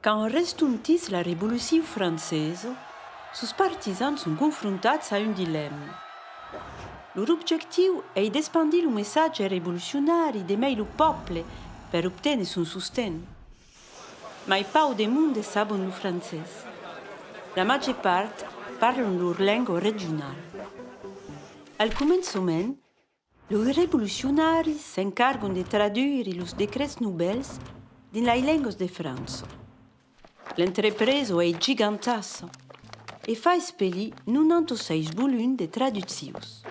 Quand restontís la Revolucion francesa, sos partisans son confrontats a un dilèma. Lor objectiu ei d'espandir lo messatge revolucionari de mai lo pòble per obténer son sosten. Mai pauc de monde sabon lo francés. La màger part parlon lor lenga regionala. Al començament, loi revolucionaris s'encargon de traduire los decrets novèls dins lai lengas de França. L'entrepresa ei gigantassa e fa espelir 96 volum de traduccions.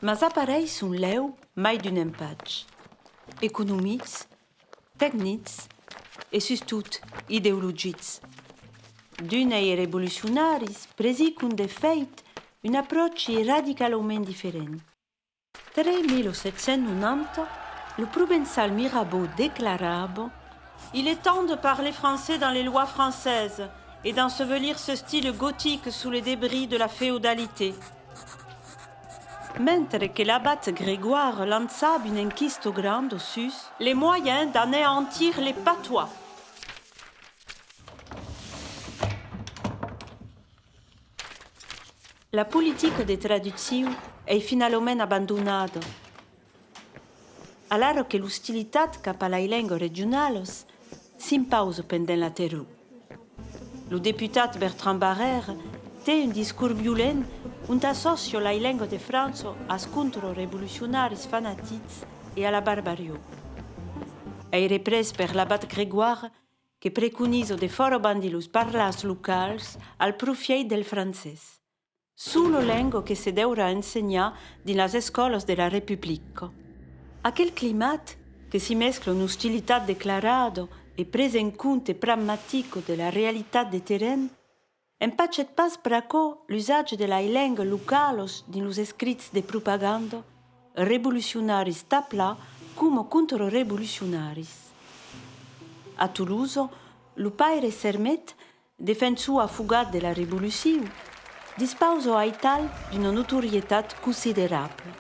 Mas apareisson lèu mai d'un empatge, economics Tecnics e sustot ideologics. D'unes e revolucionaris presicon de fèit un apròchi radicalaument diferent. 3 1790 lo provençal Mirabeau declarava, Il est temps de parler français dans les lois françaises et d'ensevelir ce style gothique sous les débris de la féodalité. Mentre que l'abat Grégoire lançab un enquisto grand au sus. Les moyens d'aneantir les patois. La politica de traducciu ei finalament abandonada. Alara que l'ostilitat cap a lai lengues regionalas s'impausa pendent la terror, lo deputat Bertrand Barrère te un discors violent ont assòcia lai lengues de França as contrarevolucionaris fanatics e a la barbarió. Ei représ per l'abat Grégoire que preconiza de fòra bandir los parlars locals al profièit del francés. Suu lo lengo que se deurà ensenhar dins las escòlas de la Republica. Aquel climat, que s'i mescla una ostilitat declarada e presa en compte pragmatica de la realitat de terren, empachèt pas pr'aquò l'usatge de lai lengas localas dins los escrits de propaganda, revolucionaris taplà coma contrarevolucionaris. A Tolosa, lo paire Sermet Defensor afogat de la Revolucion, dispausa aital d'una notorietat considerabla.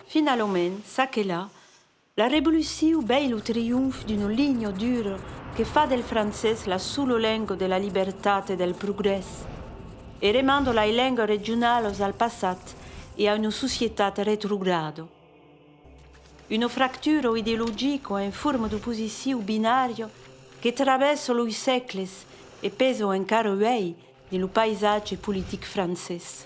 Finalament, ça que là, la Revolucion vei lo trionf d'una linha dura que fa del francés la sola lenga de la libertat e del progrès, e remanda lai lengas regionalas al passat e a una societat retrograda. Una fractura o ideologica o en forma d'oposiciu binària que travèssa los sègles e pesa encara uèi dins lo païsatge politic francés.